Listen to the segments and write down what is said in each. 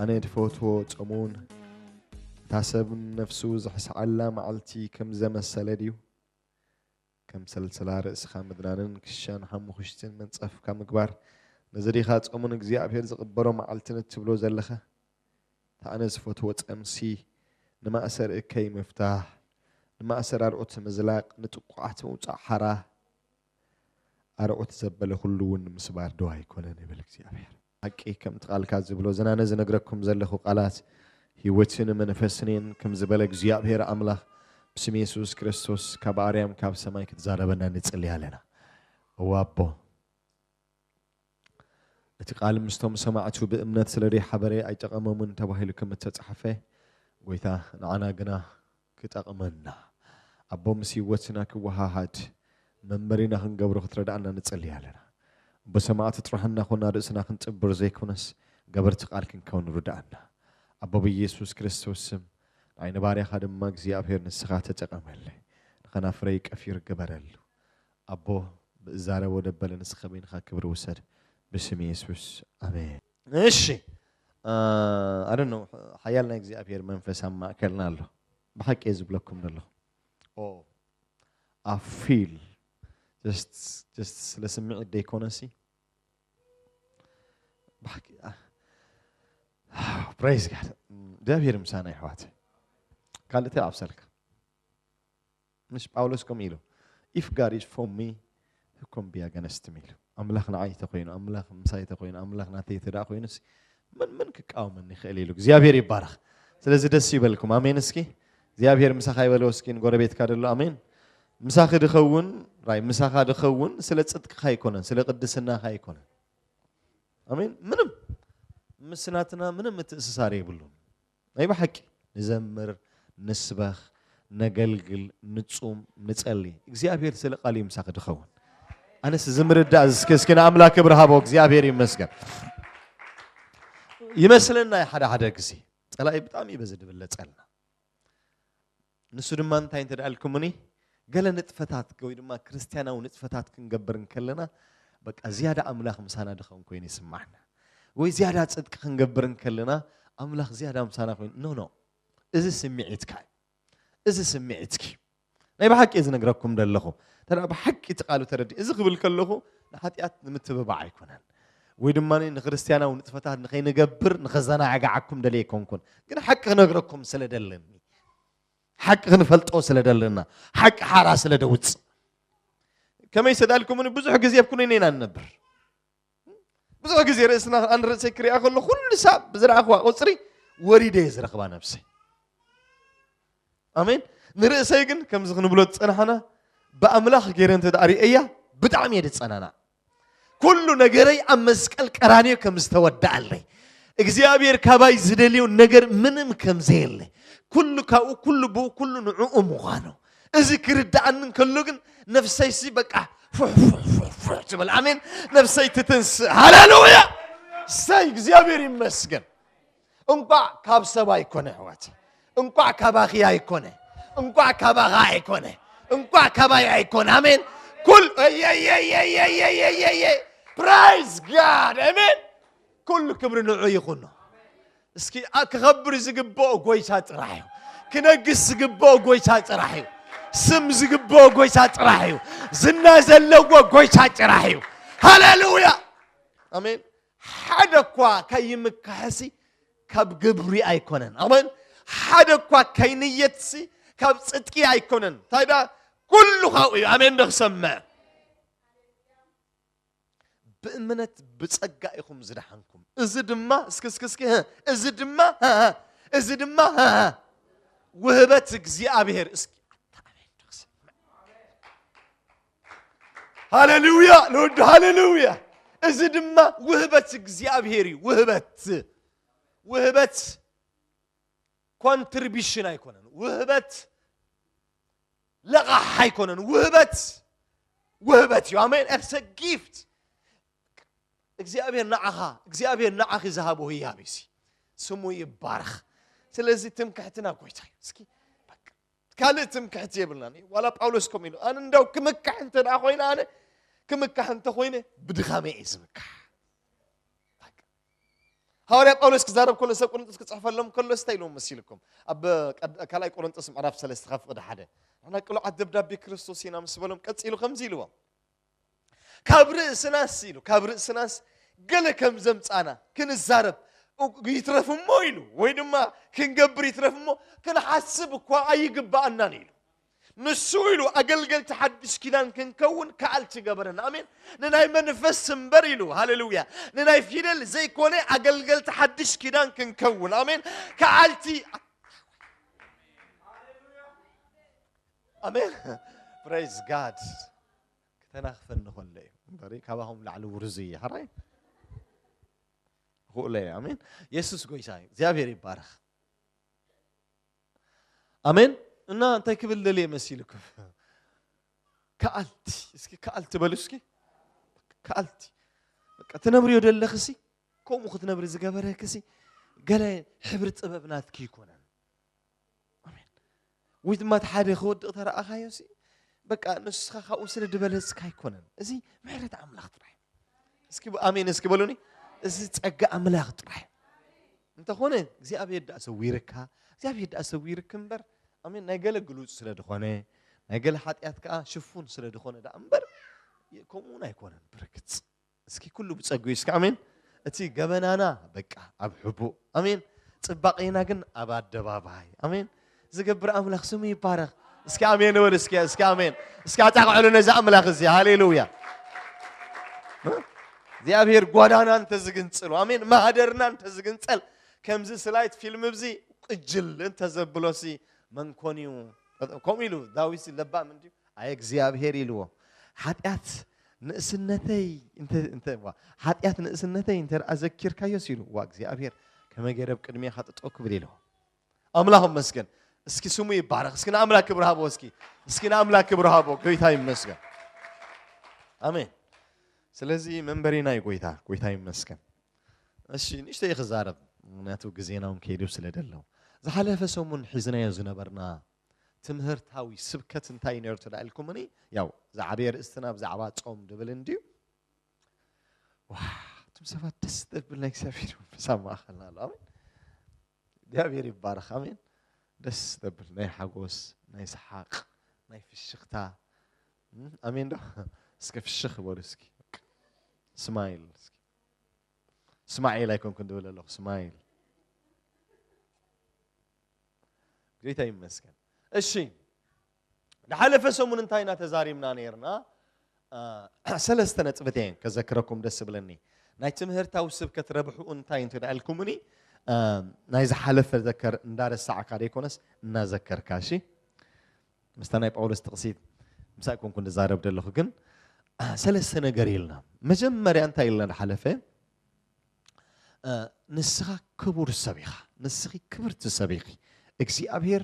ኣነ ድፈትዎ ጸሙን እታ ሰብ ነፍሱ ዝሕስዓላ መዓልቲ ከም ዘመሰለ ድዩ ከም ሰልሰላ ርእስኻ ምድናንን ክሻን ሓሙኽሽትን መንጸፍካ ምግባር ነዚ ዲኻ ጸሙን እግዚኣብሄር ዝቕበሎ መዓልትን እትብሎ ዘለኻ እቲ ኣነ ዝፈትዎ ጸምሲ ንማእሰር እከይ ምፍታሕ፣ ንማእሰር ኣርዑት ምዝላቕ፣ ንጥቁዓት ምውጻእ ሓራ ኣርዑት ዘበለ ኩሉ እውን ምስባር ዶ ኣይኮነን ይብል እግዚኣብሔር። ሓቂ ከምቲ ቃልካ ዝብሎ እዘን ኣነ ዝነግረኩም ዘለኹ ቃላት ህይወትን መንፈስን እየን ከም ዝበለ እግዚኣብሔር ኣምላኽ ብስም የሱስ ክርስቶስ ካብ ኣርያም ካብ ሰማይ ክትዛረበና ንጽሊ ኣለና። እወ ኣቦ እቲ ቃል ምስቶም ሰማዕቱ ብእምነት ስለ ዘይሓበረ ኣይጠቐሞምን ተባሂሉ ከም እተጻሕፈ፣ ጐይታ ንዓና ግና ክጠቕመና፣ ኣቦ ምስ ህይወትና ክወሃሃድ፣ መንበሪና ክንገብሮ ክትረድኣና ንጽሊ ኣለና። እሞ ሰማዕቲ ጥራሕ እናዀንና ርእስና ክንጥብር ዘይኰነስ ገበርቲ ቃል ክንከውን ርድኣና። ኣቦ ብየሱስ ክርስቶስ ስም ንዓይ ንባርያኻ ድማ እግዚኣብሄር ንስኻ ተጠቐመለይ፣ ንኸናፍረይ ቀፊር ግበረሉ። ኣቦ ብእዛረቦ ደበለ ንስካ በይንካ ክብሪ ውሰድ ብስም የሱስ ኣሜን። እሺ I don't know ሓያል ናይ እግዚኣብሔር መንፈስ ኣብ ማእከልና ኣሎ ብሓቂ እየ ዝብለኩም ዘለኹ ኦ I feel just just ስለ ስምዒት ደይኮነሲ ብሓቂ ፕሬዝ ጋድ እግዚኣብሔር ምሳና ይሕዋት ካልእ እንታይ ኣብሰልካ ምስ ጳውሎስ ከምኡ ኢሉ if God is for me who can be against me ኢሉ ኣምላኽ ንዓይ ተኮይኑ ኣምላኽ ምሳይ ተኮይኑ ኣምላኽ ናተይ ተደኣ ኮይኑሲ መን መን ክቃወመኒ ይኽእል ኢሉ እግዚኣብሔር ይባረኽ ስለዚ ደስ ይበልኩም ኣሜን እስኪ እግዚኣብሔር ምሳኻ ይበልዎ እስኪ ንጎረቤትካ ደሎ ኣሜን ምሳኺ ድኸውን ራይ ምሳኻ ድኸውን ስለ ፅድቅኻ ኣይኮነን ስለ ቅድስናኻ ኣይኮነን ኣሜን ምንም ምስናትና ምንም ምትእስሳር የብሉን ናይ ብሓቂ ንዘምር ንስበኽ ነገልግል ንጹም ንጸሊ እግዚኣብሔር ስለ ቃልዩ ምሳኺ ድኸውን ኣነስ እዚ ምርዳእ እስኪ እስኪ ንኣምላክ ክብሪ ሃቦ እግዚኣብሔር ይመስገን ይመስለና ሓደ ሓደ ግዜ ፀላኢ ብጣዕሚ እዩ በዚ ድብለፀልና ንሱ ድማ እንታይ እንተ ኢልኩምኒ ገለ ንጥፈታት ወይ ድማ ክርስትያናዊ ንጥፈታት ክንገብር እንከለና በቃ ዝያዳ ኣምላኽ ምሳና ድኸውን ኮይኑ ይስማዕና ወይ ዝያዳ ፅድቂ ክንገብር እንከለና ኣምላኽ ዝያዳ ምሳና ኮይኑ ኖ ኖ እዚ ስምዒትካ እዩ እዚ ስምዒትኪ ናይ ብሓቂ እየ ዝነግረኩም ዘለኹ እንተ ብሓቂ እቲ ቃሉ ተረዲ እዚ ክብል ከለኹ ንሓጢኣት ንምትብባዕ ኣይኮነን ወይ ድማ ንክርስትያናዊ ንጥፈታት ንኸይንገብር ንኸዘናጋዓኩም ደልየ ኣይኮንኩን ግን ሓቂ ክነግረኩም ስለ ደለኒ ሓቂ ክንፈልጦ ስለ ደለና ሓቂ ሓራ ስለ ደውፅእ ከመይ ሰዳልኩምኒ ብዙሕ ግዜ ኣብ ኩነኔ ኢና ንነብር ብዙሕ ግዜ ርእስና ኣን ርእሰይ ክሪኣ ከሎ ኩሉ ሳብ ብዝረኣኽዋ ቁፅሪ ወሪደ እየ ዝረኽባ ነብሰይ ኣሜን ንርእሰይ ግን ከምዚ ክንብሎ ዝፀናሕና ብኣምላኽ ገይረ እንተ ሪአያ ብጣዕሚ እየ ዝፀናናዕ ኩሉ ነገረይ ኣብ መስቀል ቀራንዮ ከም ዝተወድኣለይ እግዚኣብሔር ካባይ ዝደልዮ ነገር ምንም ከም ዘየለ ኩሉ ካብኡ ኩሉ ብኡ ኩሉ ንዕኡ ምዃኑ እዚ ክርድኣኒ እንከሎ ግን ነፍሰይሲ በቃ ፉሕፉሕፉሕፉሕ ትብል ኣሜን ነፍሰይ ትትንስእ ሃሌሉያ ሰይ እግዚኣብሔር ይመስገን እንቋዕ ካብ ሰብ ኣይኮነ ኣሕዋት እንቋዕ ካባኺ ኣይኮነ እንቋዕ ካባኻ ኣይኮነ እንቋዕ ካባይ ኣይኮነ ኣሜን ኩል ፕራይዝ ጋድ ኣሜን ኩሉ ክብሪ ንዑ ይኹኖ እስኪ ክኸብር ዝግብኦ ጎይታ ጥራሕ እዩ ክነግስ ዝግብኦ ጎይታ ጥራሕ እዩ ስም ዝግብኦ ጎይታ ጥራሕ እዩ ዝና ዘለዎ ጎይታ ጥራሕ እዩ ሃሌሉያ ኣሜን ሓደ እኳ ከይምካሕሲ ካብ ግብሪ ኣይኮነን። ኣሜን። ሓደ እኳ ከይንየትሲ ካብ ጽድቂ ኣይኮነን። እንታይ ደኣ ኩሉ ካብኡ እዩ። ኣሜን ዶ ክሰምዕ ብእምነት ብጸጋ ኢኹም ዝደሓንኩም። እዚ ድማ እስኪ እስኪ እስኪ ህ፣ እዚ ድማ ህ፣ ህ፣ እዚ ድማ ህ፣ ህ፣ ውህበት እግዚኣብሔር እስኪ ኣታ ኣሜን ዶ ክሰምዕ ሃሌሉያ ንወዱ ሃሌሉያ እዚ ድማ ውህበት እግዚኣብሄር እዩ ውህበት ውህበት ኮንትሪቢሽን ኣይኮነን ውህበት ለቓሕ ኣይኮነን ውህበት ውህበት እዩ ኣሜን ኤርሰ ጊፍት እግዚኣብሄር ንዓኻ እግዚኣብሄር ንዓኺ ዝሃቦ ህያብ እዩ ስሙ ይባረኽ ስለዚ ትምክሕትና ጎይታ እዩ እስኪ ካልእ ትምክሕቲ የብልናን እዩ ዋላ ጳውሎስ ከምኡ ኢሉ ኣነ እንዳው ክምካሕ እንተ ደኣ ኮይነ ኣነ ክምካሕ እንተ ኮይነ ብድኻመ እዩ ዝምካሕ ሃዋርያ ጳውሎስ ክዛረብ ከሎ ሰብ ቆሮንጦስ ክፅሕፈሎም ከሎ ስታይ ኢሎም መሲልኩም ኣብ ካልኣይ ቆሮንጦስ ምዕራፍ ሰለስተ ካብ ፍቕዲ ሓደ ንሕና ቅሉዓት ደብዳቤ ክርስቶስ ኢና ምስ በሎም ቀፂሉ ከምዚ ኢልዎም ካብ ርእስናስ ኢሉ ካብ ርእስናስ ገለ ከም ዘምጻና ክንዛረብ ይትረፍ እሞ ኢሉ ወይ ድማ ክንገብር ይትረፍ እሞ ክንሓስብ እኳ ኣይግባኣናን ኢሉ ንሱ ኢሉ ኣገልገልቲ ሓድሽ ኪዳን ክንከውን ከኣልቲ ገበረና ኣሜን ንናይ መንፈስ እምበር ኢሉ ሃሌሉያ ንናይ ፊደል ዘይኮነ ኣገልገልቲ ሓድሽ ኪዳን ክንከውን ኣሜን ከኣልቲ ኣሜን ፕሬዝ ጋድ ክተናኽፈኒ ከሎ እዩ እምበር ካባኹም ላዕሊ ውርዙ እዩ ሓራይ ክእለ እዩ ኣሜን የሱስ ጎይታ እዩ እግዚኣብሔር ይባረኽ ኣሜን እና እንታይ ክብል ደልየ መሲልኩም ከኣልቲ እስኪ ከኣልቲ በሉ እስኪ ከኣልቲ በቃ ትነብርዮ ደለኽሲ ከምኡ ክትነብሪ ዝገበረክሲ ገለ ሕብሪ ጥበብ ናትኪ ይኮነን ኣሜን ወይ ድማ እቲ ሓደ ክወድቕ ተረኣኻዮ ሲ በቃ ንስኻ ካብኡ ስለ ድበለጽካ ኣይኮነን እዚ ምሕረት ኣምላኽ ጥራሕ እስኪ ኣሜን እስኪ በሉኒ እዚ ጸጋ ኣምላኽ ጥራሕ እንተኾነ እግዚኣብሔር ደኣ ሰዊርካ እግዚኣብሔር ደኣ ሰዊርክ እምበር ኣሜን ናይ ገለ ግሉጽ ስለ ዝኾነ ናይ ገለ ሓጢኣት ከዓ ሽፉን ስለ ዝኾነ ደኣ እምበር ከምኡውን ኣይኮነን ብርግጽ እስኪ ኩሉ ብጸግኡ እስኪ ኣሜን። እቲ ገበናና በቃ ኣብ ሕቡእ ኣሜን፣ ጽባቄና ግን ኣብ ኣደባባይ ኣሜን ዝገብር ኣምላኽ ስሙ ይባረኽ። እስኪ ኣሜን ንበል እስኪ እስኪ ኣሜን እስኪ ኣጣቅዕሉ ነዚ ኣምላኽ እዚ ሃሌሉያ። እግዚኣብሔር ጓዳና እንተዝግንጽሉ ኣሜን ማህደርና እንተዝግንጸል ከምዚ ስላይት ፊልም እዚ ቅጅል እንተዘብሎሲ መንኮን እዩ ከምኡ ኢሉ ዳዊት ለባም እንድዩ ኣየ እግዚኣብሄር ኢልዎ ሓጢኣት ንእስነተይ እንተ እንተ ዋ ሓጢኣት ንእስነተይ እንተ ደኣ ዘኪርካዮስ ኢሉ ዋ እግዚኣብሄር ከመይ ገይረ ኣብ ቅድሜኻ ጠጠው ክብል ኢልዎ ኣምላኽ መስገን እስኪ ስሙ ይባረኽ እስኪ ንኣምላክ ክብሪ ሃቦ እስኪ እስኪ ንኣምላክ ክብሪ ሃቦ ጎይታ ይመስገን ኣሜን ስለዚ መንበሪና እዩ ጎይታ ጎይታ ይመስገን እሺ ንእሽተ ክዛረብ ምክንያቱ ግዜና እውን ከይዱ ስለ ደለው ዝሓለፈ ሰሙን ሒዝናዮ ዝነበርና ትምህርታዊ ስብከት እንታይ እዩ ነይሩ ተዳ ኢልኩምኒ ያው ዝዓበየ ርእስትና ብዛዕባ ጾም ድብል እንድዩ እቶም ሰባት ደስ ዘብል ናይ እግዚኣብሔር መንፈስ ኣብ ማእኸልና ኣሎ ኣሜን እግዚኣብሔር ይባረኽ ኣሜን ደስ ዘብል ናይ ሓጎስ ናይ ሰሓቅ ናይ ፍሽኽታ ኣሜን ዶ እስከ ፍሽኽ በሉ እስኪ ስማይል እስኪ ስማዒል ኣይኮንኩን ድብል ኣለኹ ስማይል ጌታ ይመስገን። እሺ ዝሓለፈ ሰሙን እንታይ ኢና ተዛሪብና ነርና? ሰለስተ ነጥብት እየን ከዘክረኩም ደስ ብለኒ ናይ ትምህርታዊ ስብከት ረብሕኡ እንታይ እንተ ኢልኩምኒ ናይ ዝሓለፈ ዘከር እንዳረሳዕካ ደይኮነስ እናዘከርካ እሺ ምስታ ናይ ጳውሎስ ጥቕሲት ምሳይ ኮንኩ ንዛረብ ዘለኹ ግን ሰለስተ ነገር ኢልና መጀመርያ እንታይ ኢልና ሓለፈ ንስኻ ክቡር ሰብ ኢኻ፣ ንስኺ ክብርቲ ሰብ ኢኺ፣ እግዚኣብሄር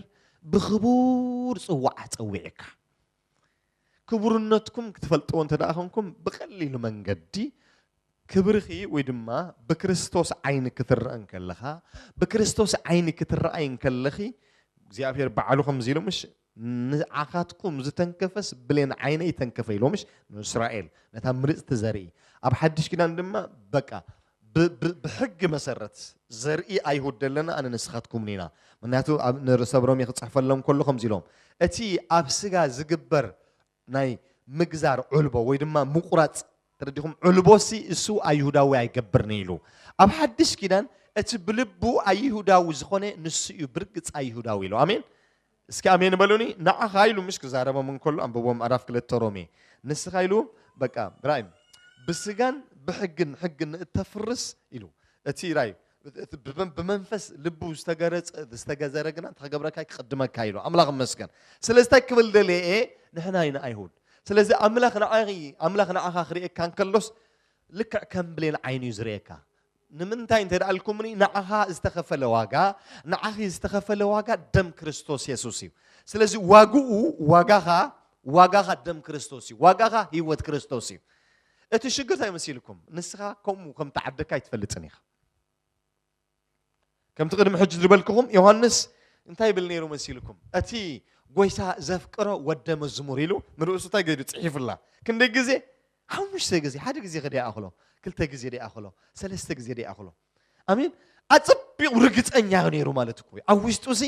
ብኽቡር ጽዋዕ ጸዊዕካ። ክቡርነትኩም ክትፈልጥዎ እንተ ደኣ ኾንኩም ብቐሊል መንገዲ ክብርኺ ወይ ድማ ብክርስቶስ ዓይኒ ክትረአ እንከለኻ ብክርስቶስ ዓይኒ ክትረኣይ እንከለኺ እግዚኣብሄር ባዕሉ ከምዚ ኢሉ ምሽ ንዓኻትኩም ዝተንከፈስ ብሌን ዓይነይ ተንከፈ ኢሎምሽ ንእስራኤል ነታ ምርፅቲ ዘርኢ ኣብ ሓድሽ ኪዳን ድማ በቃ ብሕጊ መሰረት ዘርኢ ኣይሁድ ደለና ኣነ ንስኻትኩምን ኢና ምክንያቱ ንሰብ ሮሜ ክፅሕፈሎም ከሎ ከምዚ ኢሎም እቲ ኣብ ስጋ ዝግበር ናይ ምግዛር ዑልቦ ወይ ድማ ምቁራጽ ተረዲኹም ዑልቦሲ እሱ ኣይሁዳዊ ኣይገብርኒ ኢሉ ኣብ ሓድሽ ኪዳን እቲ ብልቡ ኣይሁዳዊ ዝኾነ ንሱ እዩ ብርግጽ ኣይሁዳዊ ኢሉ ኣሜን እስኪ ኣሜን በሉኒ ንዓኻ ኢሉ ምሽ ክዛረቦም እንከሎ ኣንብቦም ምዕራፍ ክልተ ሮሜ ንስኻ ኢሉ በቃ ራእይ ብስጋን ብሕግን ሕግን እተፍርስ ኢሉ እቲ ራእይ እቲ ብመንፈስ ልቡ ዝተገረጸ ዝተገዘረ ግና እንታይ ክገብረካ ክቕድመካ ኢሉ ኣምላኽ ይመስገን ስለዚ እንታይ ክብል ደልየ እየ ንሕና ኢና ኣይሁድ ስለዚ ኣምላኽ ንዓኺ ኣምላኽ ንዓኻ ክርእየካ እንከሎስ ልክዕ ከም ብሌን ዓይኑ እዩ ዝርእየካ ንምንታይ እንተ ደኣ ኢልኩምኒ ንዓኻ ዝተኸፈለ ዋጋ ንዓኺ ዝተኸፈለ ዋጋ ደም ክርስቶስ የሱስ እዩ ስለዚ ዋግኡ ዋጋኻ ዋጋኻ ደም ክርስቶስ እዩ ዋጋኻ ህይወት ክርስቶስ እዩ እቲ ሽግር እንታይ መሲልኩም ንስኻ ከምኡ ከም ተዓደካ ኣይትፈልጥን ኢኻ ከምቲ ቅድሚ ሕጂ ዝበልክኹም ዮሃንስ እንታይ ይብል ነይሩ መሲልኩም እቲ ጎይታ ዘፍቅሮ ወደ መዝሙር ኢሉ ንርእሱ እንታይ ገይዱ ጽሒፉላ ክንደይ ግዜ ሓሙሽተ ግዜ ሓደ ግዜ ከደ ይኣኽሎ ክልተ ግዜ ደ ይኣኽሎ ሰለስተ ግዜ ደ ይኣኽሎ ኣሜን ኣጸቢቑ ርግጸኛ ነይሩ ማለት እኮ ኣብ ውሽጡ ሲ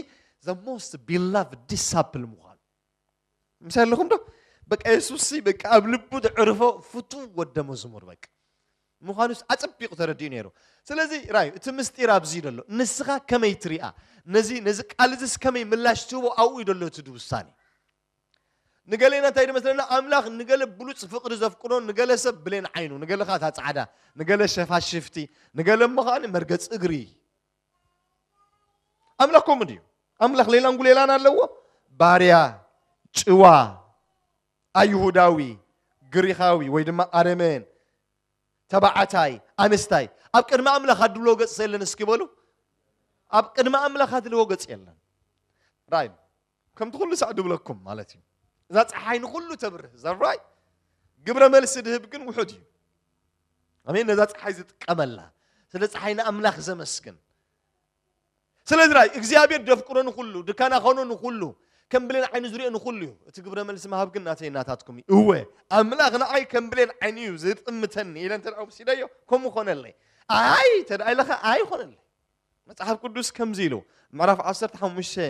ዘ ሞስት ቢላቭ ዲሳፕል ምዃኑ ምሳይ ኣለኹም ዶ በቃ የሱስ በቃ ኣብ ልቡ ዘዕርፎ ፍቱው ወደ መዝሙር በቃ ምዃኑ ኣጸቢቑ ተረዲኡ ነይሩ ስለዚ ራዩ እቲ ምስጢር ኣብዚ እዩ ዘሎ ንስኻ ከመይ ትሪኣ ነዚ ነዚ ቃል እዚስ ከመይ ምላሽ ትህቦ ኣብኡ እዩ ዘሎ እቲ ውሳኔ ንገሌና እንታይ ድመስለና ኣምላኽ ንገለ ብሉፅ ፍቕሪ ዘፍቅዶ ንገለ ሰብ ብሌን ዓይኑ ንገለ ከዓ እታ ፃዕዳ ንገለ ሸፋሽፍቲ ንገለ እሞ ከዓ መርገፂ እግሪ ኣምላኽ ከምኡ ድዩ? ኣምላኽ ሌላን ጉሌላን ኣለዎ? ባርያ፣ ጭዋ፣ ኣይሁዳዊ፣ ግሪኻዊ ወይ ድማ ኣረመን፣ ተባዕታይ፣ ኣንስታይ ኣብ ቅድሚ ኣምላኽ ኣድሎ ገጽ የለን እስኪ በሉ። ኣብ ቅድሚ ኣምላኽ ኣድልዎ ገጽ የለን። ራእይ ከምቲ ኩሉ ሳዕ ድብለኩም ማለት እዩ እዛ ፀሓይ ንኩሉ ተብርህ ዘራይ ግብረ መልሲ ድህብ ግን ውሑድ እዩ ኣሜን ነዛ ፀሓይ ዝጥቀመላ ስለ ፀሓይ ንኣምላኽ ዘመስግን ስለዚ ራይ እግዚኣብሔር ደፍቅሮ ንኩሉ ድካና ኸኖ ንኩሉ ከም ብሌን ዓይኒ ዝሪኦ ንኩሉ እዩ እቲ ግብረ መልሲ ምሃብ ግን ናተይ ናታትኩም እዩ እወ ኣምላኽ ንዓይ ከም ብሌን ዓይኒ እዩ ዝጥምተኒ ኢለ እንተ ወሲደዮ ከምኡ ኮነለይ ኣይ ተደኣ ኢለኸ ኣይኮነለይ መጽሓፍ ቅዱስ ከምዚ ኢሉ ምዕራፍ 15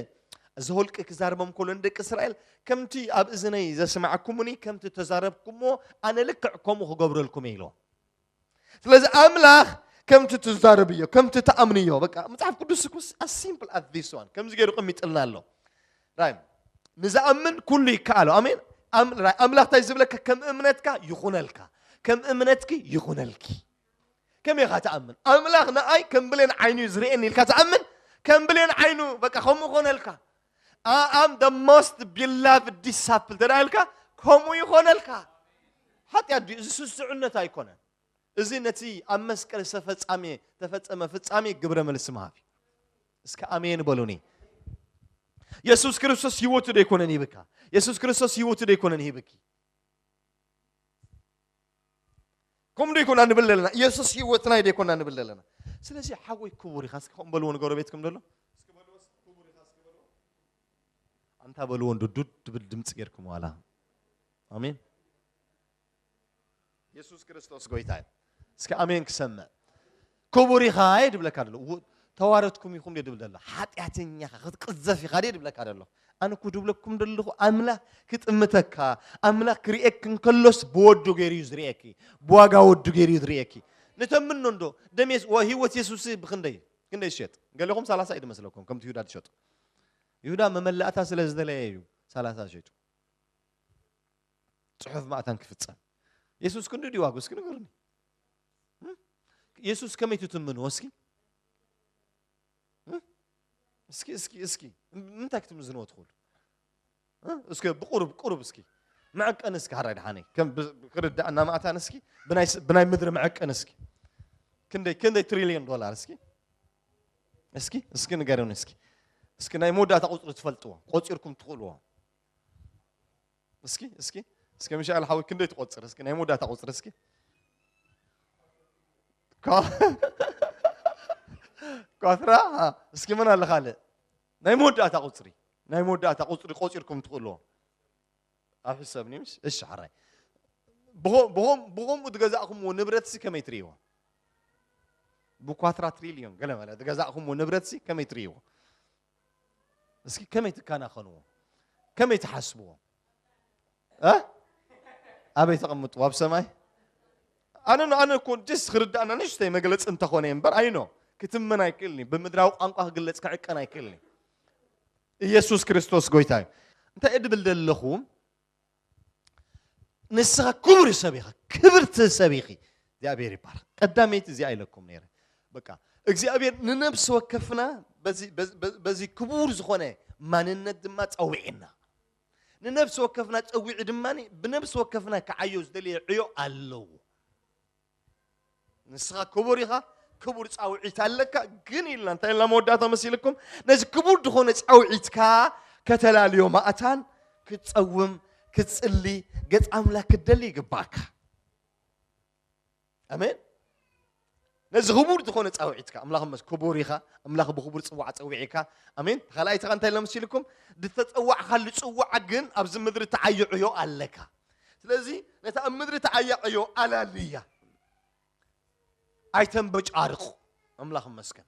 ዘወልቂ ክዛርቦም ከሎ ንደቂ እስራኤል ከምቲ ኣብ እዝነይ ዘስማዕኩምኒ ከምቲ ተዛረብኩምዎ ኣነ ልክዕ ከምኡ ክገብረልኩም እየ ኢልዎም ስለዚ ኣምላኽ ከምቲ ትዛረብዮ ከምቲ ትኣምንዮ በቃ መጽሓፍ ቅዱስ ኩስ ኣሲምፕል ኣት ዚስ ዋን ከምዚ ገይሩ ቀሚጥልና ኣሎ ራይ ንዝኣምን ኩሉ ይከኣሎ ኣሜን ኣምላኽ እንታይ ዝብለካ ከም እምነትካ ይኹነልካ ከም እምነትኪ ይኹነልኪ ከመይ ኢኻ ትኣምን? ኣምላኽ ንኣይ ከም ብሌን ዓይኑ እዩ ዝርእየኒ ኢልካ ትኣምን? ከም ብሌን ዓይኑ በቃ ከምኡ ኮነልካ። I am the most beloved disciple ተደኣ ኢልካ ከምኡ ይኾነልካ። ሓጢኣት ድዩ? እዚ ስስዑነት ኣይኮነን። እዚ ነቲ ኣብ መስቀል ዝተፈጻመ ተፈጸመ ፍጻሜ ግብረ መልሲ ምሃብ እዩ። እስከ ኣሜን በሉኒ። የሱስ ክርስቶስ ህይወቱ ደይኮነን ይብካ። የሱስ ክርስቶስ ህይወቱ ደይኮነን ይብኪ። ከምኡ ዶ ይኮና ንብል ዘለና ኢየሱስ ህይወትና ዶ ይኮና ንብል ዘለና ስለዚ ሓወይ ክቡር ኢኻ እስኪ ከምኡ በልዎ ንጎረቤትኩም ደሎ ኣንታ በልዎ እንዶ ዱድ ድብል ድምፂ ጌርኩም ዋላ ኣሜን ኢየሱስ ክርስቶስ ጎይታ እዩ እስኪ ኣሜን ክሰምዕ ክቡር ኢኻ እየ ድብለካ ደሎ ተዋረድኩም ኢኹም ድብል ደሎ ሓጢኣተኛ ኢኻ ክትቅዘፍ ኢኻ ድየ ድብለካ ደሎ ኣነ እኮ ድብለኩም ደለኹ ኣምላኽ ክጥምተካ ኣምላኽ ክርእየክ እንከሎስ ብወዱ ገይሩ እዩ ዝርእየኪ ብዋጋ ወዱ ገይሩ እዩ ዝርእየኪ ንተምኖ እንዶ ደም ህይወት የሱስ ብክንደይ ክንደይ ዝሸጥ ገለኹም ሰላሳ እዩ ድመስለኩም ከምቲ ይሁዳ ትሸጡ ይሁዳ መመላእታ ስለ ዝደለየ እዩ ሰላሳ ሸጡ ፅሑፍ ማእታን ክፍፀም የሱስ ክንዲ ድዩ ዋጉ እስኪ ንገሩኒ ኢየሱስ ከመይ ትትምንዎ እስኪ እስኪ እስኪ እስኪ ምንታይ ክትምዝንዎ ትኽእሉ እስኪ ብቁሩብ ቁሩብ እስኪ መዐቀን እስኪ ሓራይ ድሓነይ ከም ክርዳእና ማእታን እስኪ ብናይ ምድሪ መዐቀን እስኪ ክንደይ ክንደይ ትሪልዮን ዶላር እስኪ እስኪ እስኪ ንገሩን እስኪ እስኪ ናይ መወዳእታ ቁፅሪ ትፈልጥዎ ቆፂርኩም ትኽእልዎ እስኪ እስኪ እስኪ ምሻል ሓዊ ክንደይ ትቆፅር እስኪ ናይ መወዳእታ ቁፅሪ እስኪ ኳትራ እስኪ መን ኣለ ካልእ ናይ መወዳእታ ቁፅሪ ናይ መወዳእታ ቁፅሪ ቆፂርኩም ትኽእልዎ ኣብ ሕሰብኒ ምስ እሺ ሓራይ ብኸምኡ ዝገዛእኹምዎ ንብረት ሲ ከመይ ትርእይዎ ብኳትራ ትሪልዮን ገለ መለ ዝገዛእኹምዎ ንብረት ሲ ከመይ ትርእይዎ እስኪ ከመይ ትከናኸንዎ ከመይ ትሓስብዎ ኣበይ ተቐምጥዎ ኣብ ሰማይ ኣነ ኣነ እኮ ደስ ክርዳእና ንእሽተይ መግለፂ እንተኾነ እምበር ኣይኖ ክትምን ኣይክእልኒ ብምድራዊ ቋንቋ ክግለፅ ክዕቀን ኣይክእልኒ ኢየሱስ ክርስቶስ ጎይታ እዩ እንታይ እድብል ደለኹ ንስኻ ክቡር ሰብ ኢኻ፣ ክብርቲ ሰብ ኢኺ። እግዚኣብሔር ይባረክ። ቀዳመይቲ እዚኣ ኢለኩም ነይረ። በቃ እግዚኣብሔር ንነብሲ ወከፍና በዚ ክቡር ዝኾነ ማንነት ድማ ጸዊዕና ንነብሲ ወከፍና ጸዊዑ ድማ ብነብሲ ወከፍና ክዓዮ ዝደልየ ዕዮ ኣለዎ። ንስኻ ክቡር ኢኻ ክቡር ፃውዒት ኣለካ ግን ኢልና እንታይ ኢልና መወዳእታ መሲልኩም ነዚ ክቡር ዝኾነ ፃውዒትካ ከተላልዮ ማእታን ክትፀውም ክትፅሊ ገፅ ኣምላክ ክትደሊ ይግባእካ ኣሜን ነዚ ክቡር ዝኾነ ፃውዒትካ ኣምላኽ መስ ክቡር ኢኻ ኣምላኽ ብክቡር ፅዋዕ ፀዊዒካ ኣሜን ካልኣይትኻ እንታይ ኢልና መሲልኩም ዝተፀዋዕካሉ ፅዋዕ ግን ኣብዚ ምድሪ ተዓይዕዮ ኣለካ ስለዚ ነታ ኣብ ምድሪ ትዓያቕ ዕዮ ኣላልያ ኣይተንበጫርቑ ኣምላኽ መስገን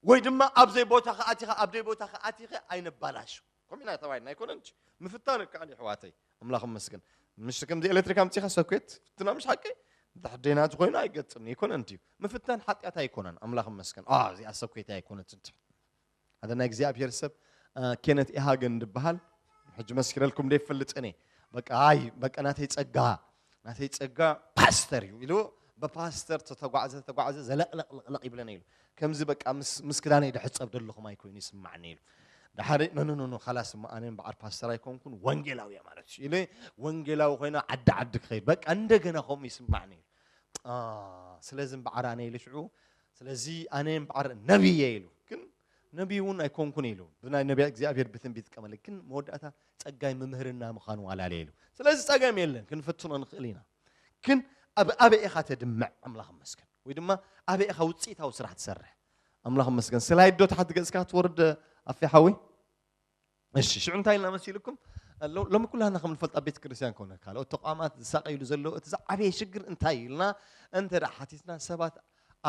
ወይ ድማ ኣብዘይ ቦታ ከኣቲኻ ኣብደይ ቦታ ከኣቲኸ ኣይነባላሹ ከምኡ ኢና ተባሂልና ኣይኮነን ምፍታን ከዓል ይሕዋተይ ኣምላኽ መስገን ምሽ ከምዚ ኤሌክትሪክ ኣምፂኻ ሰኩት ፍትና ምሽ ሓቂ ደሕደናት ኮይኑ ኣይገጥም ኣይኮነን ድዩ ምፍታን ሓጢኣት ኣይኮነን ኣምላኽ መስገን እዚኣ ሰኩት ኣይኮነትን ሓደ ናይ እግዚኣብሔር ሰብ ኬነት ኢሃገን ድበሃል ሕጂ መስኪረልኩም ደ ይፈልጥን እየ በቃ ኣይ በቃ ናተይ ጸጋ ናተይ ጸጋ ፓስተር እዩ ኢሉ በፓስተር ተተጓዕዘ ተተጓዕዘ ዘለቕለቕለቕለቕ ይብለኒ ኢሉ ከምዚ በቃ ምስ ክዳነይ ድሕፀብ ደለኹም ኣይኮይኑ ይስማዕኒ ኢሉ ድሓደ ነንንኑ ካላስ እሞ ኣነ በዓል ፓስተር ኣይኮንኩን ወንጌላዊ እየ ማለት እዩ ኢለ ወንጌላዊ ኮይነ ዓዲ ዓዲ ክኸይድ በቃ እንደገና ከምኡ ይስማዕኒ ኢሉ ስለዚ እምበዓር ኣነ ኢሉ ሽዑ ስለዚ ኣነ እምበዓር ነቢይ እየ ኢሉ ግን ነቢይ እውን ኣይኮንኩን ኢሉ ብናይ ነቢያ እግዚኣብሔር ብትንቢት ቀመለ ግን መወዳእታ ጸጋይ ምምህርና ምዃኑ ኣላለየ ኢሉ ስለዚ ጸገም የለን ክንፍትኖ ንኽእል ኢና ግን ኣብ ኣበይ ኢኻ ተድምዕ ኣምላኽ መስገን ወይ ድማ ኣበይ ኢኻ ውፅኢታዊ ስራሕ ትሰርሕ ኣምላኽ መስገን ስላይዶ ታሕቲ ገጽካ ትወርድ ኣፌ ሓዊ እሺ ሽዑ እንታይ ኢልና መሲልኩም ሎሚ ኩላና ከም ንፈልጣ ቤተ ክርስቲያን ኮነ ካልኦት ተቋማት ዝሳቀይሉ ዘሎ እቲ ዝዓበየ ሽግር እንታይ ኢልና እንተ ሓቲትና ሰባት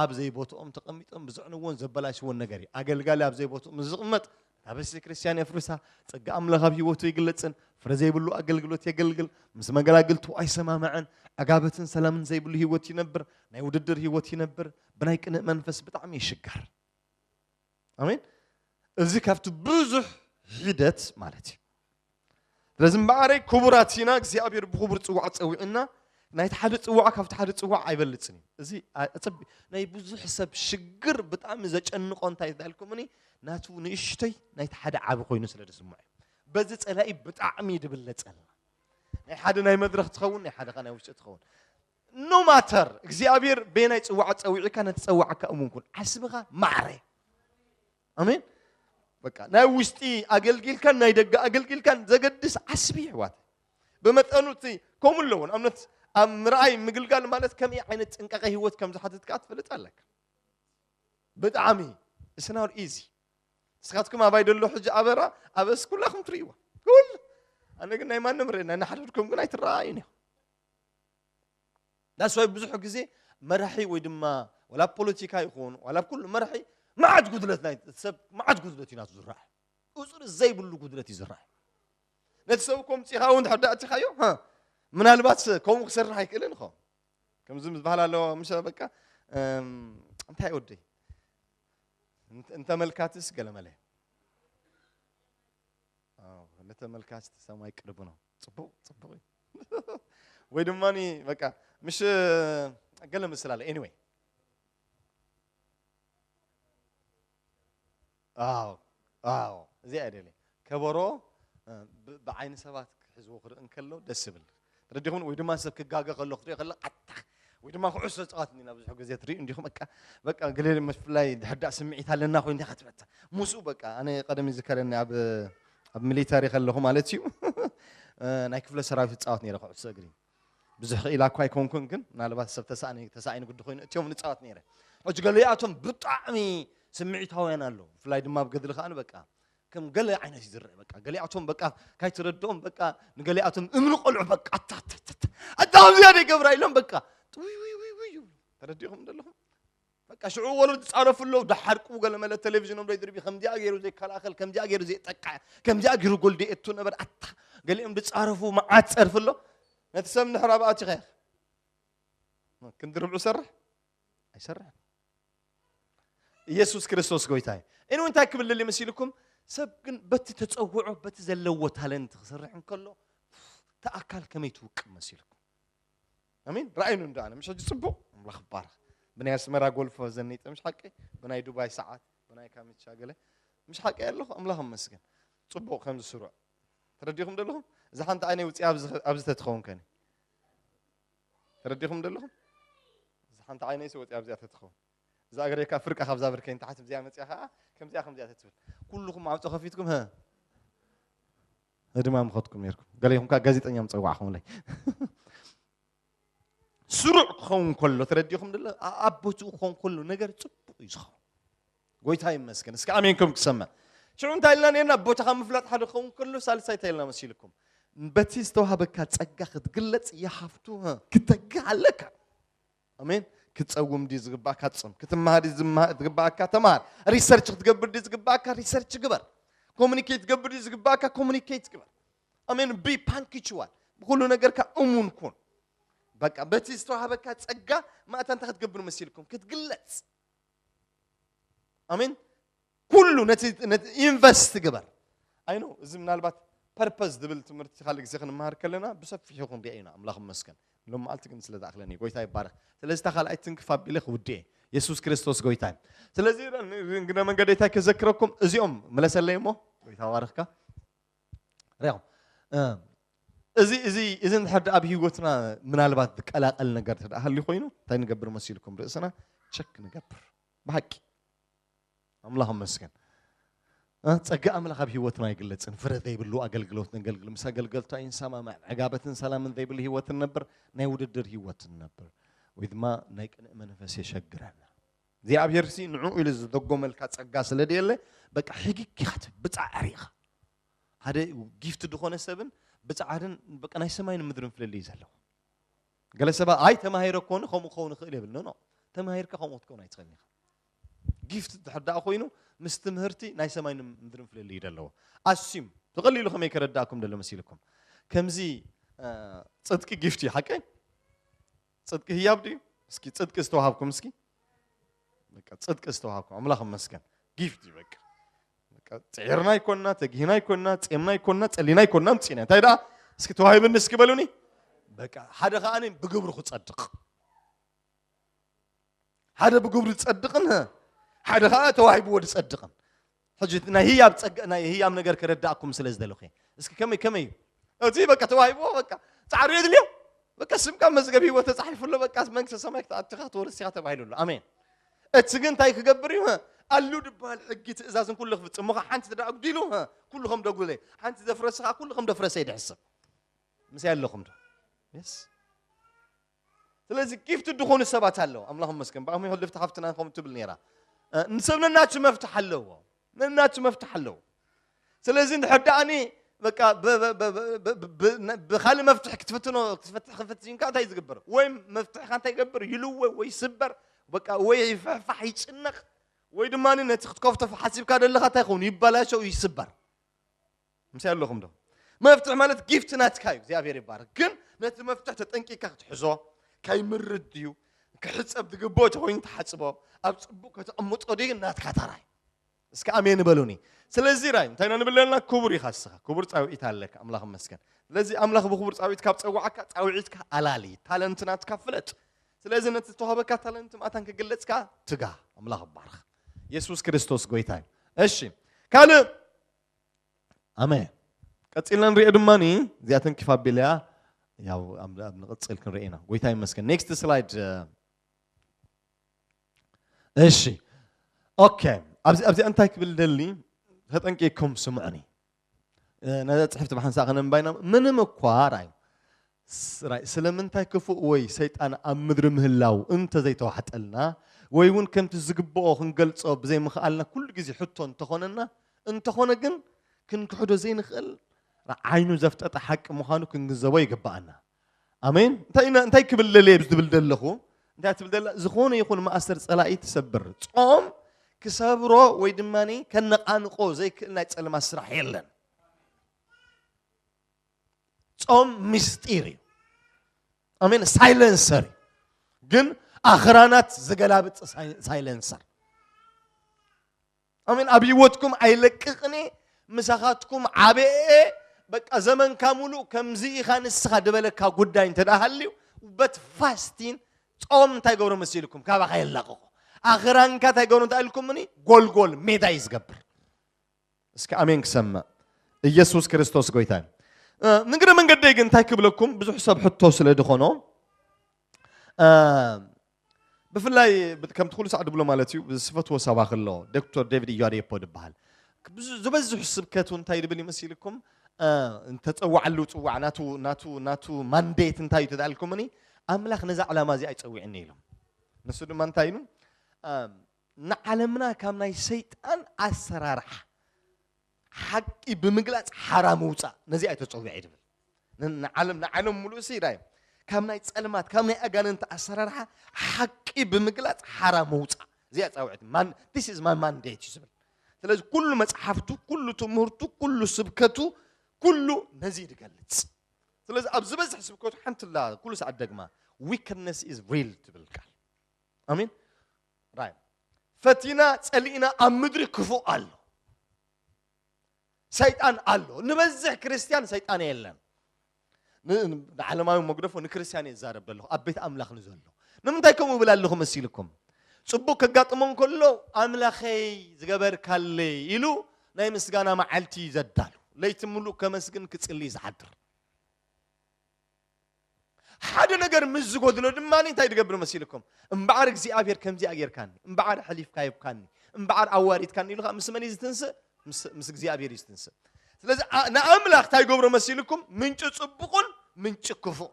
ኣብ ዘይቦትኦም ተቐሚጦም ብዝዕንዎን ዘበላሽዎን ነገር እዩ ኣገልጋሊ ኣብ ዘይቦትኡ ምስ ዝቕመጥ እታ ቤተ ክርስቲያን የፍርሳ ፀጋ ኣምላኽ ኣብ ህይወቱ ይግለፅን ፍረ ዘይብሉ ኣገልግሎት የገልግል ምስ መገላግልቱ ኣይሰማምዐን ዕጋበትን ሰላምን ዘይብሉ ህይወት ይነብር ናይ ውድድር ህይወት ይነብር ብናይ ቅንእ መንፈስ ብጣዕሚ ይሽገር ኣሜን እዚ ካብቲ ብዙሕ ሒደት ማለት እዩ ስለዚ እምበኣረይ ክቡራት ኢና እግዚኣብሔር ብክቡር ፅዋዕ ፀዊዕና ናይቲ ሓደ ፅዋዕ ካብቲ ሓደ ፅዋዕ ኣይበልፅን እዩ እዚ ኣፀቢ ናይ ብዙሕ ሰብ ሽግር ብጣዕሚ ዘጨንቆ እንታይ ዳልኩምኒ ናቱ ንእሽተይ ናይቲ ሓደ ዓቢ ኮይኑ ስለ ዝስምዖ እዩ በዚ ፀላኢ ብጣዕሚ ድብለፀልና ናይ ሓደ ናይ መድረክ ትኸውን ናይ ሓደ ከ ናይ ውሽጢ ትኸውን ኖ ማተር እግዚኣብሔር በየናይ ፅዋዕ ፀዊዕካ ነቲ ፀዋዕካ እሙን ኩን ዓስብኻ ማዕረ ኣሜን በቃ ናይ ውሽጢ ኣገልጊልካን ናይ ደገ ኣገልጊልካን ዘገድስ ዓስቢ ይሕዋት ብመጠኑ እቲ ከምኡ ኣለዎ ንኣብነት ኣብ ምርኣይ ምግልጋል ማለት ከመይ ዓይነት ጥንቃቐ ህይወት ከም ዝሓትት ከዓ ትፈልጥ ኣለካ ብጣዕሚ እስናር ኢዚ ንስኻትኩም ኣባይ ደሎ ሕጂ ኣበራ ኣበስ ኩላኹም ትርእይዋ ኩሉ ኣነ ግን ናይ ማንም ርእና ናሓደድኩም ግን ኣይትረኣዩን እዮም ዳስዋይ ብዙሕ ግዜ መራሒ ወይ ድማ ዋላ ኣብ ፖለቲካ ይኹን ዋላ ኣብ ኩሉ መራሒ መዓት ጉድለት ናይ ሰብ መዓት ጉድለት እዩ ናቱ ዝረአ ቁፅሪ ዘይብሉ ጉድለት እዩ ዝረአ ነቲ ሰብ እኮ ምፅኢኻ እውን ድሕር ዳእቲኻዮ ምናልባት ከምኡ ክሰርሕ ኣይክእልን ኸ ከምዚ ዝበሃል ኣለዎ ምሸ በቃ እንታይ ወደይ እንተመልካትስ ገለመለ ለተመልካት ሰማይ ቅርብ ነው ፅቡቕ ፅቡቕ እዩ ወይ ድማ በቃ ምሽ ገለ ምስል ኣለ ኤኒወይ ኣዎ ኣዎ እዚኣ እየ ደልየ ከበሮ እ፣ ብ- ብዓይኒ ሰባት ክሕዝዎ ክርኢ እንከሎ ደስ ይብል ተረዲኹም ወይ ድማ ሰብ ክጋገ ከሎ ክትሪኦ ከለካ ኣታ ወይ ድማ ኩዕሶ ጸዋት እንዲና ብዙሕ ግዜ ትሪኡ እንዲኹም በቃ በቃ ገለ ብፍላይ ድሕዳእ ስምዒት ኣለና ኮይኑ እንታይ ክትበታ ምስኡ በቃ ኣነ ቀደም ይዝከረኒ ኣብ ኣብ ሚሊታሪ ከለኹ ማለት እዩ ናይ ክፍለ ሰራዊት ይፃወት ነይረ ኩዕሶ እግሪ ብዙሕ ክኢላ እኳ ኣይኮንኩን ግን ምናልባት ሰብ ተሳእኒ ተሳእኒ ግዲ ኮይኑ እትዮም ንፃወት ነይረ ሕጂ ገሊኣቶም ብጣዕሚ ስምዒታውያን ኣለዉ ብፍላይ ድማ ኣብ ገድሊ ከኣ በቃ ከም ገለ ዓይነት እዩ ዝረአ በቃ ገሊኣቶም በቃ ካይትረድኦም በቃ ንገሊኣቶም እምኒ ቆልዑ በቃ ኣታታታታ ኣዳም ዝያደ ይገብራ ኢሎም በቃ ውይ ውይ ውይ ውይ ይብሉ ተረዲእኹም ዘለኹም በቃ ሽዑ ወለዱ ዝፃረፉ ኣለዉ ዳሓርቁ ገለ መለ ቴሌቪዥኖም ዘይድርቢ ከምዚኣ ገይሩ ዘይከላኸል ከምዚኣ ገይሩ ዘየጠቅዐ ከምዚኣ ገይሩ ጎል ደየቱ ነበር ኣታ ገሊኦም ዝፃረፉ መዓት ፀርፊ ኣሎ ነቲ ሰብ ንሕራ ብኣቲኸ ክንዲ ርብዑ ሰርሕ ኣይሰርሕን ኢየሱስ ክርስቶስ ጎይታ እዩ እን እንታይ ክብል ልል ምስ ኢልኩም ሰብ ግን በቲ ተፀውዖ በቲ ዘለዎ ታለንት ክሰርሕ እንከሎ እቲ ኣካል ከመይ ትውቅብ መሲልኩም ኣሚን ረኣይኑ እንዶ ኣነ ምሽ ሕጂ ፅቡቅ ኣምላኽ ይባረኽ ብናይ ኣስመራ ጎልፎ ዘኒጠ ምሽ ሓቂ ብናይ ዱባይ ሰዓት ብናይ ካሚቻ ገለ ምሽ ሓቂ ኣለኹ ኣምላኽ መስገን ፅቡቅ ከምዚ ስሩዕ ተረዲኹም ደለኹም እዛ ሓንቲ ዓይነይ ውፅያ ኣብዚ ተትኸውን ከኒ ተረዲኹም ዶ ኣለኹም? እዛ ሓንቲ ዓይነይሲ ወፂኣ ኣብዚኣ ተትኸውን እዛ እግረይ ካብ ፍርቃ ካብዛ ብርከይ ንታሕቲ ብዚኣ መፅያ ከዓ ከምዚኣ ከምዚኣ ተትብል ኩልኹም ማዕፆ ከፊትኩም ህ ህድማ ምኸትኩም ነይርኩም ገለ ይኹም ከዓ ጋዜጠኛ ምፀዋዕኹምለይ ስሩዕ ክኸውን ከሎ ተረዲኹም ደሎ ኣብ ቦትኡ ክኸውን ከሎ ነገር ፅቡቅ እዩ ዝኸውን ጎይታ ይመስገን እስከ ኣሜን ከም ክሰምዕ ሽዑ እንታይ ኢልና ነርና ቦታኻ ምፍላጥ ሓደ ክኸውን ከሎ ሳልሳይ እንታይ ኢልና መሲልኩም በቲ ዝተዋህበካ ጸጋ ክትግለጽ ይሃፍቱ ክተግህ ኣለካ ኣሜን ክትጸውም ድዩ ዝግባእካ ጽም ክትመሃር ድዩ ዝግባእካ ተመሃር ሪሰርች ክትገብር ድዩ ዝግባእካ ሪሰርች ግበር ኮሚኒኬት ትገብር ድዩ ዝግባእካ ኮሚኒኬት ግበር ኣሜን ቢ ፓንክችዋል ብኩሉ ነገርካ እሙን ኩን በቃ በቲ ዝተዋህበካ ጸጋ ማእታ እንታይ ክትገብር መሲልኩም ክትግለጽ ኣሜን ኩሉ ነቲ ኢንቨስት ግበር ኣይኖ እዚ ምናልባት ፐርፐዝ ዝብል ትምህርቲ ካልእ ግዜ ክንመሃር ከለና ብሰፊሑ ክንሪኦ ኢና ኣምላኽ መስገን ሎም መዓልቲ ግን ስለ ዝኣክለኒ ጎይታ ይባረክ ስለዚ እታ ካልኣይ ትንክፍ ኣቢለ ክውድኤ የሱስ ክርስቶስ ጎይታ እዩ ስለዚ እንግነ መንገደይታይ ከዘክረኩም እዚኦም መለሰለይ እሞ ጎይታ ባርክካ እዚ እዚ እዚ እንድሕር ኣብ ህይወትና ምናልባት ዝቀላቀል ነገር እንተ ሃልዩ ኮይኑ እንታይ ንገብር መሲልኩም ርእስና ቸክ ንገብር ብሓቂ ኣምላኽ መስገን ጸጋ ኣምላኽ ኣብ ህይወትና ኣይግለጽን ፍረ ዘይብሉ ኣገልግሎት ነገልግል ምስ ኣገልገልቱ ኣይንሰማማዕ ዕጋበትን ሰላምን ዘይብሉ ህይወት ንነብር ናይ ውድድር ህይወት ንነብር ወይ ድማ ናይ ቅንእ መንፈስ የሸግረና እግዚኣብሔርሲ ንዕኡ ኢሉ ዝደጎመልካ ጸጋ ስለ ደየለ በቃ ሕግግ ኢኻ ትብል ብጻዕሪ ኢኻ ሓደ ጊፍት ዝኾነ ሰብን ብጻዕርን በቃ ናይ ሰማይን ምድርን ፍልልይ ዘለዎ ገለ ሰባት ኣይ ተማሂረ ኮኑ ከምኡ ክኸውን ይኽእል የብል ኖ ተማሂርካ ከምኡ ክትከውን ኣይትኽእልን ኢኻ ጊፍት ድሕር ደኣ ኮይኑ ምስ ትምህርቲ ናይ ሰማይን ምድርን ፍልልይ ዘለዎ ኣስዩም ብቐሊሉ ከመይ ከረዳእኩም ደሎ መሲልኩም ከምዚ ጽድቂ ጊፍት እዩ ሓቀይ ጽድቂ ህያብ ድዩ? እስኪ ጽድቂ ዝተዋሃብኩም እስኪ በቃ ጽድቂ ዝተዋሃብኩም ኣምላኽ ይመስገን ጊፍት እዩ በቃ በቃ ጽዒርና ይኮንና ተጊህና ይኮንና ጼምና ይኮንና ጸሊና ይኮንና ምጽና እንታይ ደኣ እስኪ ተዋሂብኒ እስኪ በሉኒ በቃ ሓደ ከዓኒ ብግብሩ ክጸድቕ ሓደ ብግብሩ ዝጸድቕን ሓደ ከዓ ተዋሂብዎ ዝጸድቕን ሕጂ ናይ ህያብ ጸጋ ናይ ህያብ ነገር ክረዳእኩም ስለ ዝደለኹ እስኪ ከመይ ከመይ እዩ እዚ በቃ ተዋሂብዎ በቃ ጻዕሪ የድልዮ በቃ ስምካ መዝገብ ህይወት ተጻሒፉ ኣሎ በቃ መንግስተ ሰማይ ክትኣትኻ ክትወርስ ኢኻ ተባሂሉ ኣሎ ኣሜን እቲ ግን እንታይ ክገብር እዩ ኣሉ ድበሃል ሕጊ ትእዛዝን ኩሉ ክፍጽም ሞኸ ሓንቲ ትዳ ኣጉዲሉ ኩሉ ከም ደጉለ ሓንቲ ዘፍረስኻ ኩሉ ከም ደፍረሰ ይድሕስብ ምስይ ኣለኹም ዶ የስ ስለዚ ጊፍት ድኾኑ ሰባት ኣለዉ ኣምላኽ መስገን ብኣሚ ሕልፍቲ ሓፍትና ከምኡ ትብል ነይራ ንሰብ ነናቱ መፍትሕ ኣለዎ ነናቱ መፍትሕ ኣለዎ ስለዚ እንድሕር ደኣኒ በቃ ብካልእ መፍትሒ ክትፍትኖ ክትፈትሕ ክፍትሽንካ እንታይ ዝግበር ወይ መፍትሕካ እንታይ ይገብር ይልወ ወይ ስበር በቃ ወይ ይፍሕፋሕ ይጭነቕ ወይ ድማ ነቲ ክትከፍቶ ሓሲብካ ዘለካ እንታይ ይኸውን ይበላሸው ይስበር ምሳይ ኣለኹም ዶ? መፍትሒ ማለት ጊፍቲ ናትካ እዩ፣ እግዚኣብሔር ይባረክ። ግን ነቲ መፍትሒ ተጠንቂካ ክትሕዞ ከይምርድ ድዩ ክሕፀብ ዝግብኦ ተኮይኑ ተሓፅቦ ኣብ ፅቡቅ ከተቕምጦ ድዩ ናትካ ተራ እዩ። እስኪ ኣሜን በሉኒ። ስለዚ ራይ እንታይ ኢና ንብል ኣለና? ክቡር ኢኻ እስኻ፣ ክቡር ፃውዒት ኣለካ፣ ኣምላኽ ይመስገን። ስለዚ ኣምላኽ ብክቡር ፃውዒት ካብ ፀዋዓካ ፃውዒትካ ኣላሊ፣ ታለንት ናትካ ፍለጥ። ስለዚ ነቲ ዝተዋህበካ ታለንት ማእታን ክግለፅ ከዓ ትጋ፣ ኣምላኽ ይባረኽ። የሱስ ክርስቶስ ጎይታ እዩ። እሺ ካልእ ኣሜን ቀፂልና ንሪኦ ድማ እዚኣ ተንኪፍ ኣቢለያ ያው ንቕፅል ክንርኢ ኢና ጎይታ ይመስገን ኔክስት ስላይድ እሺ ኦኬ ኣብዚ ኣብዚ እንታይ ክብል ደሊ ተጠንቂቅኩም ስምዑኒ ነዛ ፅሕፍቲ ብሓንሳእ ከነንባይና ምንም እኳ ራይ ስራይ፣ ስለምንታይ ክፉእ ወይ ሰይጣን ኣብ ምድሪ ምህላዉ እንተ ዘይተዋሕጠልና ወይ ውን ከምቲ ዝግብኦ ክንገልጾ ብዘይምኽኣልና ኩሉ ግዜ ሕቶ እንተ ኾነና፣ እንተ ኾነ ግን ክንክሕዶ ዘይንኽእል ዓይኑ ዘፍጠጠ ሓቂ ምዃኑ ክንግንዘቦ ይግብኣና። ኣሜን። እንታይ ኢና እንታይ ክብል ደልየ ዝብል ደለኹ እንታይ ትብል ደላ ዝኾነ ይኹን ማእሰር ጸላኢ ትሰብር ጾም ክሰብሮ ወይ ድማ ከነቓንቆ ዘይክእል ናይ ጸለማ ስራሕ የለን። ጾም ምስጢር እዩ ኣሜን ሳይለንሰር እዩ ግን ኣኽራናት ዝገላብጥ ሳይለንሰር ኣሜን ኣብ ህይወትኩም ኣይለቅቕኔ ምሳኻትኩም ዓበኤ በቃ ዘመንካ ሙሉእ ከምዚ ኢኻ ንስኻ ድበለካ ጉዳይ እንተ ሃልዩ በት ፋስቲን ጾም እንታይ ገብሮ መሲልኩም ካባኻ የላቕቑ ኣኽራንካ እንታይ ገብሮ እንታይ ኢልኩምኒ ጎልጎል ሜዳ እዩ ዝገብር እስኪ ኣሜን ክሰምዕ ኢየሱስ ክርስቶስ ጎይታ እዩ ንግረ መንገደይ ግን እንታይ ክብለኩም ብዙሕ ሰብ ሕቶ ስለ ዝኾኖ ብፍላይ ከምቲ ኩሉ ሳዕ ድብሎ ማለት እዩ ዝፈትዎ ሰባኺ ኣሎ ዶክተር ዴቪድ ኢያዴፖ ድበሃል ዝበዝሑ ስብከቱ እንታይ ድብል ይመስልኩም እንተፀዋዕሉ ፅዋዕ ናቱ ናቱ ናቱ ማንዴት እንታይ እዩ ተዳልኩምኒ ኣምላኽ ነዛ ዕላማ እዚኣ ይፀዊዕኒ ኢሎም ንሱ ድማ እንታይ ኢሉ ንዓለምና ካብ ናይ ሰይጣን ኣሰራርሓ ሓቂ ብምግላጽ ሓራ ምውጻእ ነዚኣ ተጸዊዐ ድብል ንዓለም ንዓለም ሙሉእ ሲ ዳዮም ካብ ናይ ጸልማት ካብ ናይ ኣጋንንቲ ኣሰራርሓ ሓቂ ብምግላጽ ሓራ ምውጻእ እዚኣ ጻውዕት ማን ዲስ ኢዝ ማይ ማንዴት እዩ ዝብል ስለዚ ኩሉ መጽሓፍቱ ኩሉ ትምህርቱ ኩሉ ስብከቱ ኩሉ ነዚ ዝገልጽ ስለዚ ኣብ ዝበዝሕ ስብከቱ ሓንቲ ላ ኩሉ ሰዓት ደግማ ዊክነስ ኢዝ ሪል ትብል ቃል ኣሚን ራይም ፈቲና ጸሊእና ኣብ ምድሪ ክፉእ ኣሎ ሰይጣን ኣሎ ንበዝሕ ክርስትያን ሰይጣን የለን ንዓለማዊ መግደፎ ንክርስትያን እየ ዛረብ ዘለኹ ኣብ ቤት ኣምላኽ ንዘሎ ንምንታይ ከምኡ እብል ኣለኹ መሲልኩም ፅቡቅ ከጋጥሞ እንከሎ ኣምላኸይ ዝገበርካለይ ኢሉ ናይ ምስጋና መዓልቲ ዘዳሉ ለይቲ ምሉእ ከመስግን ክፅልይ ዝሓድር ሓደ ነገር ምስ ዝጎድሎ ድማ እንታይ ድገብር መሲልኩም እምበዓር እግዚኣብሔር ከምዚኣ ጌርካኒ እምበዓር ሕሊፍካ ይብካኒ እምበዓር ኣዋሪድካኒ ኢሉ ከዓ ምስ መን እዩ ዝትንስእ ምስ እግዚኣብሔር እዩ ዝትንስእ ስለዚ ንኣምላኽ እንታይ ገብሮ መሲልኩም ምንጭ ፅቡቕን ምንጭ ክፉእ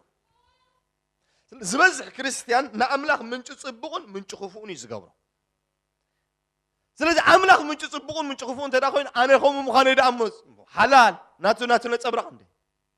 ዝበዝሕ ክርስትያን ንኣምላኽ ምንጭ ፅቡቕን ምንጭ ክፉእን እዩ ዝገብሮ ስለዚ ኣምላኽ ምንጭ ፅቡቕን ምንጭ ክፉእ እንተ ኮይኑ ኣነ ከምኡ ምዃነ ደኣ ሓላል ናቱ ናቱ ነፀብራቕ እንደ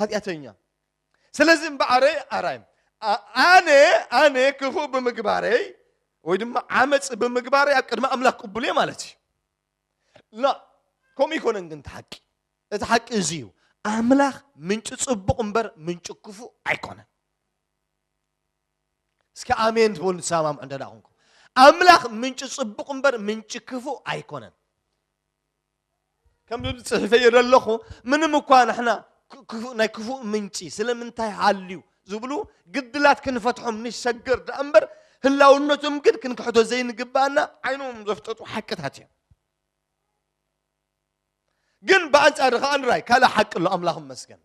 ኃጢአተኛ ስለዚህ እምበኣረይ ኣራይ ኣነ ኣነ ክፉእ ብምግባረይ ወይ ድማ ዓመፅ ብምግባረይ ኣብ ቅድሚ ኣምላኽ ቅቡል እየ ማለት እዩ ላ ከምኡ ይኮነን ግን እቲ ሓቂ እቲ ሓቂ እዚ እዩ ኣምላኽ ምንጭ ፅቡቕ እምበር ምንጭ ክፉእ ኣይኮነን እስኪ ኣሜን ትበሉ ትሰማምዑ እንተ ኮንኩም ኣምላኽ ምንጭ ፅቡቕ እምበር ምንጭ ክፉእ ኣይኮነን ከምዚ ጽሒፈዮ ዘለኹ ምንም እኳ ንሕና ናይ ክፉእ ምንጪ ስለምንታይ ሃልዩ ዝብሉ ግድላት ክንፈትሖም ንሸገር ደኣ እምበር ህላውነቶም ግን ክንክሕዶ ዘይንግባኣና ዓይኖም ዘፍጠጡ ሓቅታት እዮም ግን ብኣንጻር ከኣ ንራይ ካልእ ሓቂ ኣሎ ኣምላኽ መስገን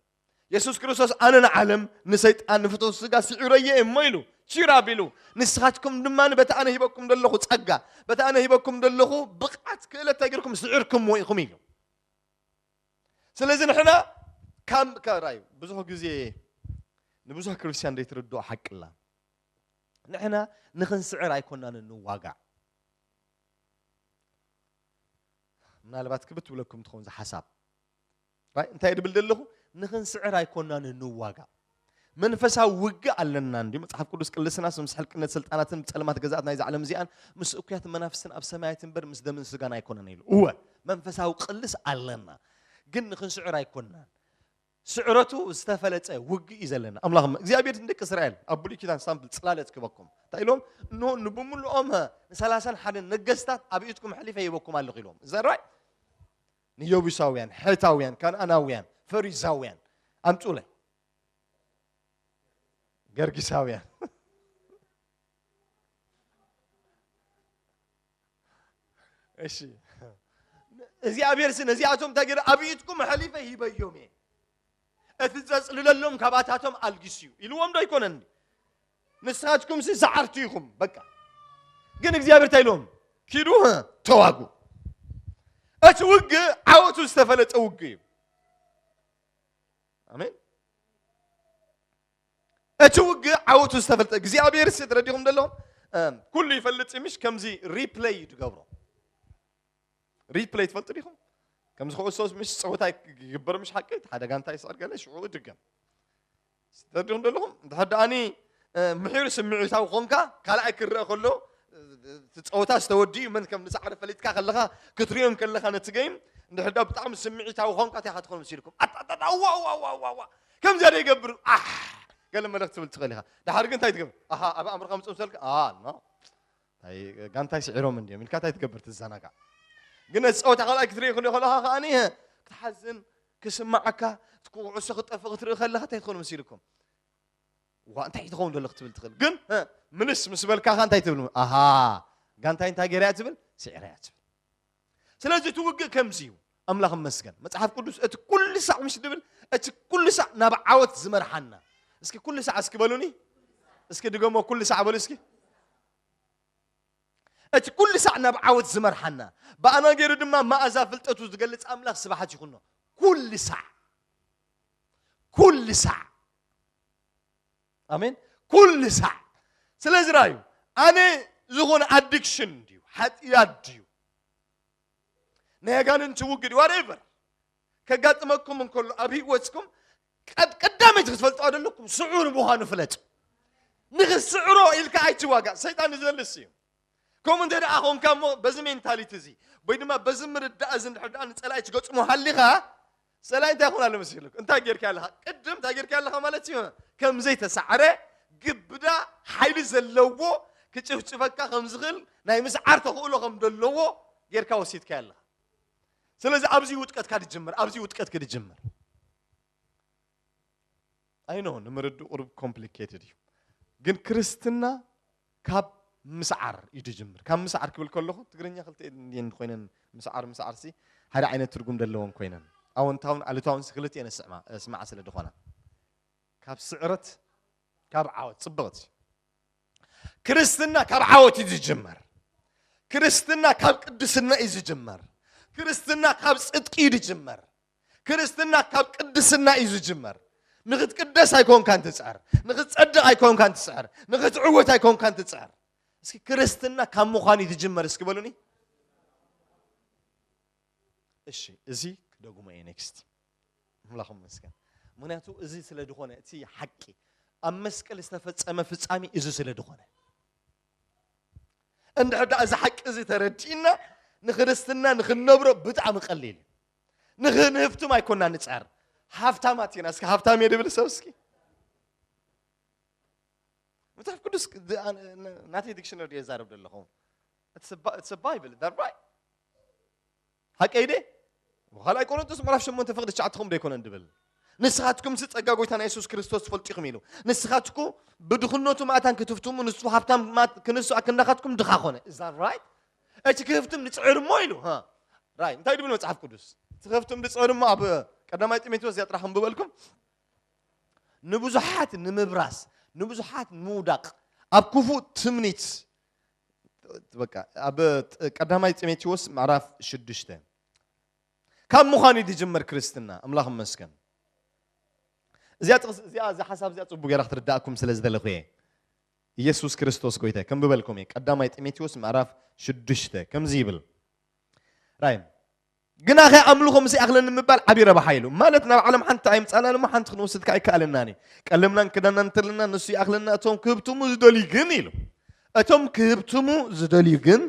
የሱስ ክርስቶስ ኣነ ንዓለም ንሰይጣን ንፍትው ስጋ ስዒረየ እሞ ኢሉ ቺር ኣቢሉ ንስኻትኩም ድማ በቲ ኣነ ሂበኩም ዘለኹ ጸጋ በቲ ኣነ ሂበኩም ዘለኹ ብቕዓት ክእለት እንታይ ጌርኩም ስዒርኩምዎ ኢኹም ኢሉ ስለዚ ንሕና ካብ ራዩ ብዙሕ ግዜ ንብዙሕ ክርስትያን ዘይትርድኦ ሓቂ ኣላ ንሕና ንኽንስዕር ኣይኮናን ንዋጋዕ ምናልባት ክብት ብለኩም ትኸውን ዝሓሳብ እንታይ ድብል ዘለኹ ንክንስዕር ኣይኮናን ንዋጋ መንፈሳዊ ውግእ ኣለና እንዲ መጽሓፍ ቅዱስ ቅልስና ምስ ሕልቅነት ስልጣናትን ጸልማት ገዛእት ናይዚ ዓለም እዚኣን ምስ እኩያት መናፍስትን ኣብ ሰማያት እምበር ምስ ደምን ስጋን ኣይኮነን ኢሉ እወ መንፈሳዊ ቅልስ ኣለና ግን ንክንስዕር ኣይኮናን ስዕረቱ ዝተፈለፀ ውግእ እዩ ዘለና ኣምላኽ እግዚኣብሔር ንደቂ እስራኤል ኣብ ብሉይ ኪዳን ሳምፕል ፅላለት ክበኩም እንታይ ኢሎም እንሆ ንብምልኦም ንሰላሳን ሓደን ነገስታት ኣብ ኢድኩም ሕሊፈ ይበኩም ኣለኹ ኢሎም እዛ ራይ ንየቡሳውያን፣ ሐታውያን፣ ከነኣናውያን፣ ፈሪዛውያን ኣምጹለይ። ገርጊሳውያን እሺ እግዚኣብሔር ሲ ነዚኣቶም እንታይ ገይረ ኣብ ኢድኩም ሐሊፈ ሂበዮም እየ እቲ ዘጽልለሎም ካባታቶም ኣልጊስ እዩ ኢልዎም ዶ ኣይኮነን ንስኻትኩም ሲ ሰዓርቲ ኢኹም በቃ ግን እግዚኣብሔር እንታይ ኢሎም ኪዱ ተዋጉ እቲ ውግእ ዓወቱ ዝተፈለጠ ውግእ እዩ ኣሜን እቲ ውግእ ዓወቱ ዝተፈለጠ እግዚኣብሔር ሲ ተረዲኹም ዘለዎም ኩሉ ይፈልጥ ምሽ ከምዚ ሪፕለይ እዩ ትገብሮ ሪፕለይ ትፈልጡ ዲኹም ከምዚ ክዕሶ ምሽ ፀወታ ይግበር ምሽ ሓቂ ሓደ ጋንታ ይስዕር ገለ ሽዑ ድገም ትርድኡኒ ዶ ኣለኹም? እንድሕር ደኣኒ ምሒር ስምዒታዊ ኾንካ ካልኣይ ክረኣ ከሎ እቲ ፀወታ ዝተወድኡ መን ከም ዝሰዓረ ፈሊጥካ ከለኻ ክትሪኦም ከለኻ ነቲ ገይም እንድሕር ዳ ብጣዕሚ ስምዒታዊ ኾንካ እንታይ ክትኾኑ መሲልኩም ኣጣጣጣ ዋ ዋ ዋ ዋ ዋ ከምዚኣ ዶ ይገብር ኣሕ ገለ መልእኽቲ ትብል ትኽእል ኢኻ ድሓር ግን እንታይ ትገብር ኣሃ ኣብ ኣእምሮኻ ምፅኡ ምሰልካ ኖ ታይ ጋንታይ ስዒሮም እንዲዮም ኢልካ ታይ ትገብር ትዘናጋዕ ግን ነቲ ፀወታ ካልኣይ ክትርኢ ክልኦ ከለካ ከዓኒ ክትሓዝን ክስማዓካ ኩዕሶ ክጠፍእ ክትርኢ ከለካ እንታይ ትኾኑ መሲልኩም ዋ እንታይ ትኸውን ዘሎ ክትብል ትኽእል ግን ምልስ ምስ በልካኻ እንታይ ትብል ኣሃ ጋንታይ እንታይ ገይራ እያ ትብል ስዒራ እያ ትብል ስለዚ እቲ ውግእ ከምዚ እዩ ኣምላኽ መስገን መጽሓፍ ቅዱስ እቲ ኩሉ ሳዕ ምስ ድብል እቲ ኩሉ ሳዕ ናብ ዓወት ዝመርሓና እስኪ ኩሉ ሳዕ እስኪ በሉኒ እስኪ ድገሞ ኩሉ ሳዕ በሉ እስኪ እቲ ኩሉ ሳዕ ናብ ዓወት ዝመርሓና ብኣና ገይሩ ድማ መኣዛ ፍልጠቱ ዝገልፅ ኣምላኽ ስብሓት ይኹኖ ኩሉ ሳዕ ኩሉ ሳዕ ኣሜን ኩሉ ሳዕ ስለዚ ራዩ ኣነ ዝኾነ ኣዲክሽን ድዩ ሓጢኣት ድዩ ናይ ኣጋንንቲ ውግድ ዋትኤቨር ከጋጥመኩም እንከሎ ኣብ ህይወትኩም ቀዳመይቲ ክትፈልጥዋ ዘለኩም ስዑር ምዃኑ ፍለጥ ንኽስዕሮ ኢልካ ኣይትዋጋእ ሰይጣን ዝደልስ እዩ ከምኡ እንተ ደኣ ኾንካ እሞ በዚ ሜንታሊቲ እዚ ወይ ድማ በዚ ምርዳእ እዚ እንድሕር ደኣ ንጸላኢ ትገጥሞ ሃሊኻ ጸላኢ እንታይ ይኹን ኣሎ መሲሉክ እንታይ ጌርካ ኣለኻ ቅድም እንታይ ጌርካ ኣለኻ ማለት እዩ ከም ዘይተሳዕረ ግብዳ ሓይሊ ዘለዎ ክጭፍጭፈካ ከም ዝኽእል ናይ ምስዓር ተኽእሎ ከም ዘለዎ ጌርካ ወሲድካ ኣለኻ ስለዚ ኣብዚ ውጥቀትካ ድጅምር ኣብዚ ውጥቀት ክድጅምር ኣይ ኖ ንምርድእ ቁሩብ ኮምፕሊኬትድ እዩ ግን ክርስትና ካብ ምስዓር እዩ ድጅምር ካብ ምስዓር ክብል ከለኹ ትግርኛ ክልተ እየን ኮይነን ምስዓር ምስዓር ሲ ሓደ ዓይነት ትርጉም ዘለወን ኮይነን ኣወንታውን ኣሉታውን ሲ ክልተ እየን ስምዓ ስለ ዝኾና ካብ ስዕረት ካብ ዓወት ፅብቕቲ ክርስትና ካብ ዓወት እዩ ዝጅመር ክርስትና ካብ ቅድስና እዩ ዝጅመር ክርስትና ካብ ፅድቂ እዩ ዝጅመር ክርስትና ካብ ቅድስና እዩ ዝጅመር። ንክትቅደስ ኣይኮንካን ትፅዕር፣ ንክትፀድቕ ኣይኮንካን ትፅዕር፣ ንክትዕወት ኣይኮንካን ትፅዕር። እስኪ ክርስትና ካብ ምዃን እዩ ዝጅመር እስኪ በሉኒ። እሺ እዚ ክደግሞ እየ ኔክስት ኣምላኽ ይመስገን። ምክንያቱ እዚ ስለ ዝኾነ እቲ ሓቂ ኣብ መስቀል ዝተፈፀመ ፍፃሜ እዚ ስለ ዝኾነ እንድሕር ደኣ እዚ ሓቂ እዚ ተረዲእና ንክርስትና ንክንነብሮ ብጣዕሚ ቀሊል እዩ። ንክንህፍትም ኣይኮናን ንጻር ሃፍታማት ኢና እስኪ ሃፍታም እየ ድብል ሰብ እስኪ መጽሓፍ ቅዱስ ናተይ ዲክሽነሪ ድየ ዛረብ ዘለኹ ኢትስ ባይብል ዳት ራይት ሃቀይ ደ ካልኣይ ቆሮንቶስ ምዕራፍ ሸሞንተ ፍቅዲ ትሽዓትኹም ዶ ኣይኮነን ድብል ንስኻትኩም ሲ ጸጋ ጎይታና የሱስ ክርስቶስ ትፈልጡ ኢኹም ኢሉ ንስኻትኩ ብድኽነቱ ማእታን ክትፍትሙ ንሱ ሃብታም ክንሱ ኣክንዳኻትኩም ድኻ ኮነ እዛ ራይት እቲ ክህፍትም ንጽዕር እሞ ኢሉ ራይ እንታይ ድብል መጽሓፍ ቅዱስ እቲ ክህፍትም ንጽዕር እሞ ኣብ ቀዳማይ ጢሞቴዎስ እዚኣ ጥራሕ ክንብበልኩም ንብዙሓት ንምብራስ ንብዙሓት ንምውዳቕ ኣብ ክፉእ ትምኒት በቃ ኣብ ቀዳማይ ጢሞቴዎስ ምዕራፍ ሽዱሽተ ካብ ምዃን እዩ ዝጅመር ክርስትና ኣምላኽ መስገን እዚኣ እዚኣ እዚ ሓሳብ እዚኣ ፅቡቅ ገይራ ክትርዳእኩም ስለ ዝደለኹ እየ ኢየሱስ ክርስቶስ ጐይታይ ከንብበልኩም እየ። ቀዳማይ ጢሞቴዎስ ምዕራፍ ሽዱሽተ ከምዚ ይብል ራይ ግናኸ ኣምልኾ ምስ ይኣኽለኒ ምባል ዓብዪ ረብሓ ኢሉ ማለት ናብ ዓለም ሓንቲ ኣይምፃእናን እሞ ሓንቲ ክንወስድ ከዓ ኣይከኣለናን እዩ ቀለምናን ክዳናን እንተለና ንሱ ይኣኽለና እቶም ክህብትሙ ዝደልዩ ግን ኢሉ እቶም ክህብትሙ ዝደልዩ ግን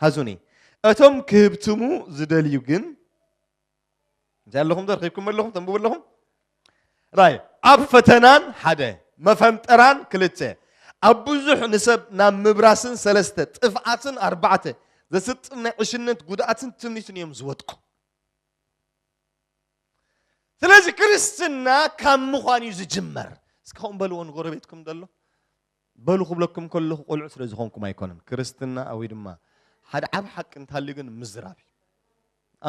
ሃዙኒ እቶም ክህብትሙ ዝደልዩ ግን እንታይ ኣለኹም ዘርኪብኩም ኣለኹም ተንብቡ ኣለኹም ራይ ኣብ ፈተናን ሓደ መፈንጠራን ክልተ ኣብ ብዙሕ ንሰብ ናብ ምብራስን ሰለስተ ጥፍኣትን ኣርባዕተ ዘስጥም ናይ ዕሽነት ጉድኣትን ትምኒትን እዮም ዝወድቁ ስለዚ ክርስትና ካብ ምዃን እዩ ዝጅመር እስከ ከምኡ በልዎ ንጎረቤትኩም ዘሎ በሉ ክብለኩም ከለኹ ቆልዑ ስለ ዝኾንኩም ኣይኮነን ክርስትና ወይ ድማ ሓደ ዓብ ሓቂ እንተሃልዩ ግን ምዝራብ እዩ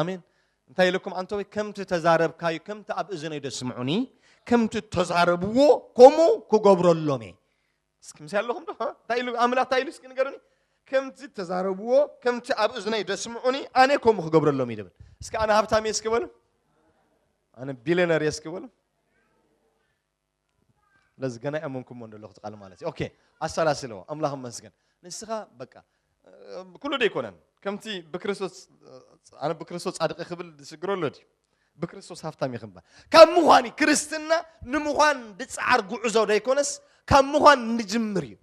ኣሜን እንታይ ኢለኩም ኣንተወይ ከምቲ ተዛረብካዩ ከምቲ ኣብ እዝነይ ደስምዑኒ ከምቲ ተዛረብዎ ከምኡ ክገብረሎም እየ እስኪ ምስ ኣለኹም ዶ እንታይ ኢሉ ኣምላኽ እንታይ ኢሉ እስኪ ንገሩኒ ከምቲ ተዛረብዎ ከምቲ ኣብ እዝነይ ደስምዑኒ ኣነ ከምኡ ክገብረሎም እዩ ደብል እስኪ ኣነ ሃብታም እየ እስኪ በሉ ኣነ ቢልዮነር እየ እስኪ በሉ ስለዚ ገና ኣይኣመንኩሞን ዘለኹ እቲ ቃል ማለት እዩ። ኦኬ ኣሰላስለዎ፣ ኣምላኽ ይመስገን። ንስኻ በቃ ኩሉ ዶ ኣይኮነን ከምቲ ብክርስቶስ ኣነ ብክርስቶስ ጻድቂ ክብል ዝስግሮ ኣሎ ድዩ ብክርስቶስ ሃብታም እዩ ክምባል ካብ ምዃን እዩ ክርስትና ንምዃን ዝጸዓር ጉዕዞ ዶ ኣይኮነስ ካብ ምዃን ንጅምር እዩ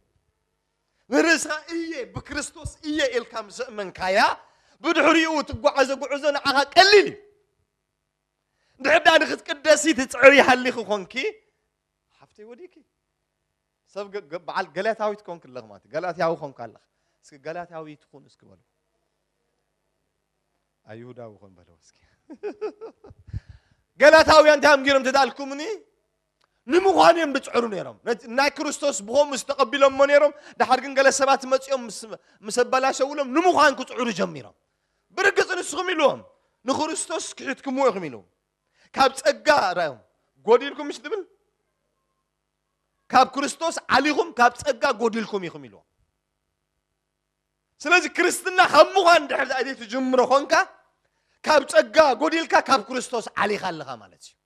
ንርእስኻ እየ ብክርስቶስ እየ ኢልካ ምስ እመንካያ ብድሕሪኡ ትጓዓዘ ጉዕዞ ንዓኻ ቀሊል እዩ ድሕር ድኣ ንክትቅደሲ ትፅዕሪ ሃሊኺ ኮንኪ ሓፍተይ ወዲኪ ሰብ በዓል ገላትያዊት ኮንክ ኣለኽ ማለት ገላትያዊ ኮንክ ኣለኽ እስኪ ገላትያዊ ትኹን እስኪ በሉ ኣይሁዳዊ ኮን በለው እስኪ ገላታውያን እንታይ እዮም ገይሮም ተዳልኩምኒ ንምዃን እዮም ዝፅዕሩ ነይሮም ናይ ክርስቶስ ብኸምኡ ዝተቐቢሎሞ ነይሮም ድሓር ግን ገለ ሰባት መፂኦም ምስ ኣበላሸውሎም ንምዃን ክፅዕሩ ጀሚሮም ብርግፅ ንስኹም ኢልዎም ንክርስቶስ ክሒትኩምዎ ኢኹም ኢሉ ካብ ፀጋ ራዮም ጎዲልኩም ምስ ትብል ካብ ክርስቶስ ዓሊኹም ካብ ፀጋ ጎዲልኩም ኢኹም ኢልዎም ስለዚ ክርስትና ካብ ምዃን ድሕር ዘይትጅምሮ ኮንካ ካብ ፀጋ ጎዲልካ ካብ ክርስቶስ ዓሊኻ ኣለኻ ማለት እዩ